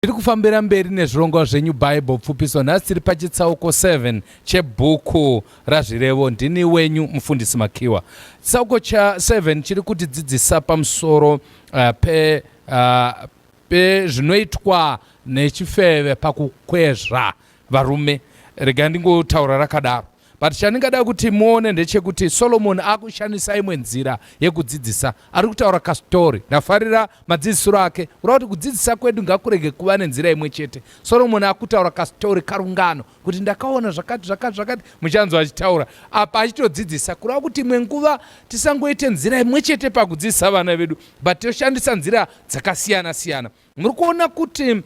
Tiri kufambira mberi nezvirongwa zvenyu Bible pfupiso nhasi tiri pachitsauko 7 chebhuku razvirevo ndini wenyu mufundisi Makiwa. Chitsauko cha 7 chiri kuti dzidzisa pamusoro uh, pe uh, pezvinoitwa nechifeve pakukwezva varume. Rega ndingotaura rakadaro. but chandingada kuti muone ndechekuti solomoni akushandisa imwe nzira yekudzidzisa ari kutaura kastori ndafarira madzidzisiro ake ura kuti kudzidzisa kwedu ngakurege kuva nenzira imwe chete solomoni akutaura kastori karungano kuti ndakaona zvakati zvakati zvakati muchanzwa achitaura apa achitodzidzisa kureva kuti imwe nguva tisangoite nzira imwe chete pakudzidzisa vana vedu but toshandisa nzira dzakasiyana siyana muri kuona kuti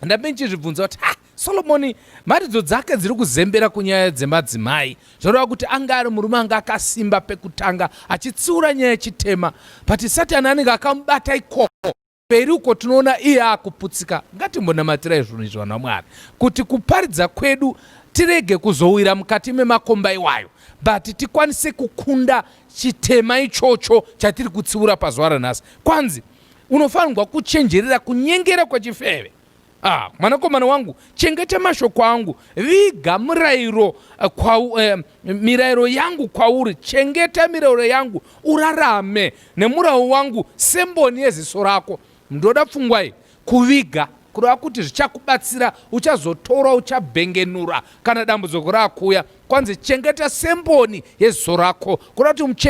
ndambe ndichizvibvunza kuti ha solomoni mharidzo dzake dziri kuzembera kunyaya dzemadzimai zvoreva kuti ange ari murume anga akasimba pekutanga achitsiura nyaya yechitema but satani anenge akamubata ikoko mberi uko tinoona iye akuputsika ngatimbonamatira izvunhu izvi vanhu vamwari kuti kuparidza kwedu tirege kuzowira mukati memakomba iwayo but tikwanise kukunda chitema ichocho chatiri kutsiura pazuva ranhasi kwanzi Unofanirwa kuchenjerera kunyengera kwechifeve. Ah, mwanakomana wangu, chengeta mashoko angu, viga murayiro eh, kwa, eh, mirayiro yangu kwauri, chengeta mirayiro yangu, urarame nemurawo wangu semboni yeziso rako. Ndoda pfungwai kuviga kureva kuti zvichakubatsira, uchazotora, uchabhengenura kana dambudziko rakuuya. Kwanzi chengeta semboni yeziso rako, kureva kuti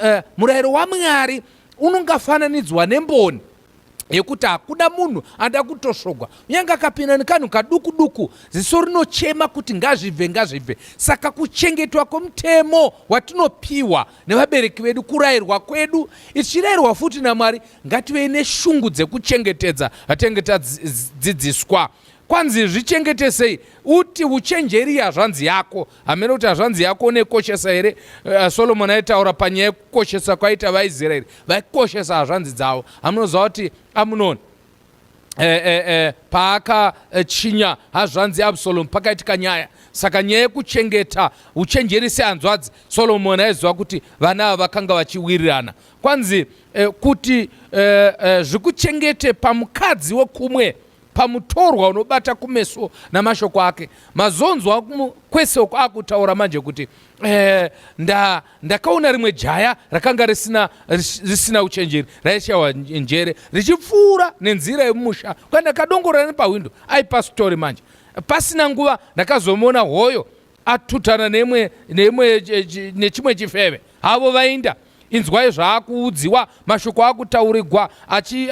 eh, murayiro waMwari Unongafananidzwa nemboni yekuti hakuda munhu anoda kutosvogwa unyange akapinda nekanhu kaduku duku ziso rinochema kuti ngazvibve ngazvibve saka kuchengetwa kwemutemo watinopiwa nevabereki vedu kurayirwa kwedu tichirayirwa futi namwari ngativei neshungu dzekuchengetedza vatenge tadzidziswa kwanzi zvichengetesei uti uchenjeri yazvanzi yako hameno kuti hazvanzi yako unekoshesa here uh, solomoni aitaura panyaya yekukoshesa kwaita vaisraeri vaikoshesa hazvanzi dzavo hamunoziva kuti amunoni E, e, e, paakachinya hazvanzi absalomu pakaitika nyaya saka nyaya yekuchengeta uchenjeri sehanzvadzi solomoni aiziva kuti vana ava vakanga vachiwirirana kwanzi e, kuti e, e, zvikuchengete pamukadzi wekumwe pamutorwa unobata kumeso namashoko ake mazonzwa kwesoko akutaura manje kuti eh, nda, ndakaona rimwe jaya rakanga risina, risina uchenjeri raishawa njere richipfuura nenzira yemumusha kwandakadongorera nepahwindo aipastori manje pasina nguva ndakazomuona hoyo atutana neimwe neimwe nechimwe chifeve havo vainda inzwai zvaakuudziwa mashoko akutaurigwa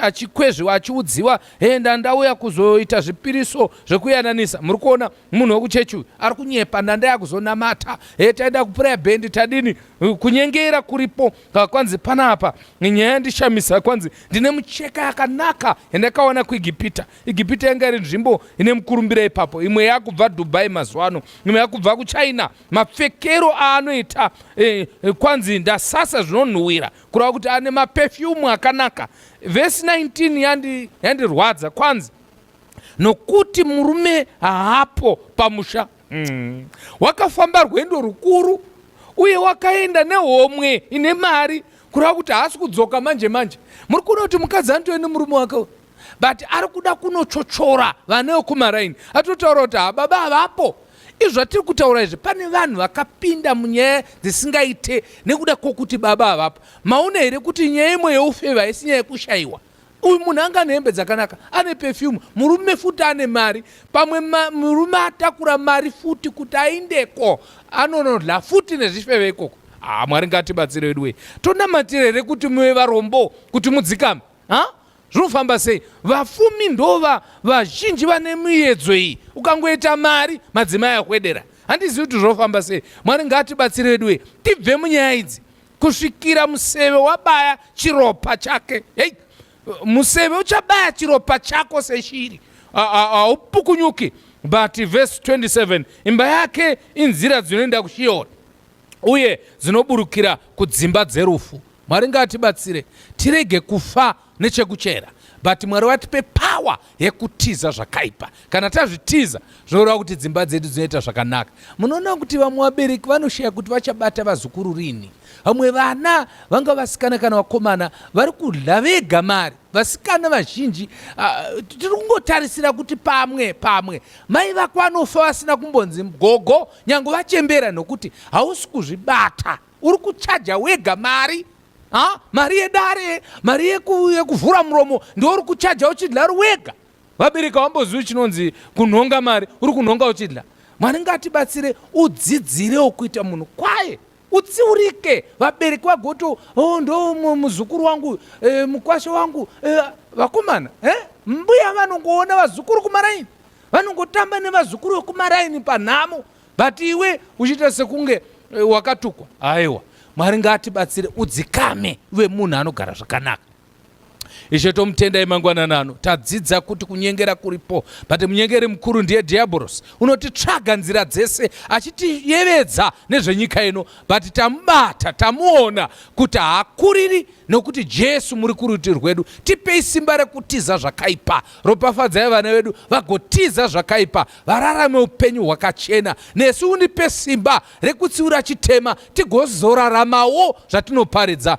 achikwezviwa achiudziwa henda ndauya kuzoita zvipiriso zvekuyananisa muri kuona munhu wekuchechi uyu ari kunyepa ndandaya kuzonamata he taida kupuraya bhendi tadini kunyengera kuripo kwanzi panapa nyaya yandishamisa kwanzi ndine mucheka yakanaka yandakawana kuegipita Igipita yanga iri nzvimbo ine mukurumbira ipapo, imwe yakubva Dubai mazuva ano, imwe yakubva kuChina. Mapfekero aanoita eh, eh kwanzi ndasasa zvinonhuwira kureva kuti ane mapefyumu akanaka. Vhesi 19 yandi, yandirwadza kwanzi nokuti murume haapo pamusha mm. wakafamba rwendo rukuru uye wakaenda nehomwe ine mari kureva kuti haasi kudzoka manje manje muri kuona kuti mukadzi anotove nemurume wake but ari kuda kunochochora vana vekumaraini atotaura kuti hababa ah, havapo izvi zvatiri kutaura izvi pane vanhu vakapinda munyaya dzisingaite nekuda kwokuti baba havapo maona here kuti nyaya imwe yeufeva haisi nyaya yekushayiwa uyu munhu anga ane hembe dzakanaka ane pefyumu murume futi ane mari pamwe murume atakura mari futi kuti aindeko anonodla futi nezvifeve ikoko haa ah, mwari ngatibatsire wedu wee tonamatira here kuti muve varombo kuti mudzikame ha zvinofamba sei vafumi ndova vazhinji vane miyedzo iyi ukangoita mari madzimai akwedera handizivi kuti zvofamba sei mwari ngaatibatsire vedu wee tibve munyaya idzi kusvikira museve wabaya chiropa chake hei museve uchabaya chiropa chako seshiri haupukunyuki but verse 27 imba yake inzira dzinoenda kushiona uye dzinoburukira kudzimba dzerufu mwari ngaatibatsire tirege kufa nechekuchera but mwari vatipe pawa yekutiza zvakaipa kana tazvitiza zvoreva kuti dzimba dzedu dzinoita zvakanaka munoona kuti vamwe vabereki vanoshaya kuti vachabata vazukuru rini vamwe vana vanga vasikana kana vakomana vari kudya vega mari vasikana vazhinji uh, tiri kungotarisira kuti pamwe pamwe mai vako vanofa vasina kumbonzi gogo Nyange vachembera nokuti hausi kuzvibata, uri kuchaja wega mari ha? mari yedare, mari yeku, yekuvhura muromo ndiwo uri kuchaja uchidla wega. Vabereki wambozivi chinonzi kunhonga mari, uri kunhonga uchidla. Mwari ngatibatsire udzidzirewo kuita munhu kwaye. utsiurike vabereki vagoto oh, ndo muzukuru wangu eh, mukwasha wangu eh, vakomana eh? mbuya vanongoona vazukuru kumaraini vanongotamba nevazukuru vekumaraini panhamo but iwe uchiita sekunge eh, wakatukwa aiwa mwari ngaatibatsire udzikame uve munhu anogara zvakanaka Ishe tomutendai mangwanani ano tadzidza kuti kunyengera kuripo but munyengeri mukuru ndiye diaboros unotitsvaga nzira dzese achitiyevedza nezvenyika ino but tamubata tamuona kuti haakuriri nokuti jesu muri kuruti rwedu tipei simba rekutiza zvakaipa ropafadzai vana vedu vagotiza zvakaipa vararame upenyu hwakachena nesu undipe simba rekutsiura chitema tigozoraramawo zvatinoparidza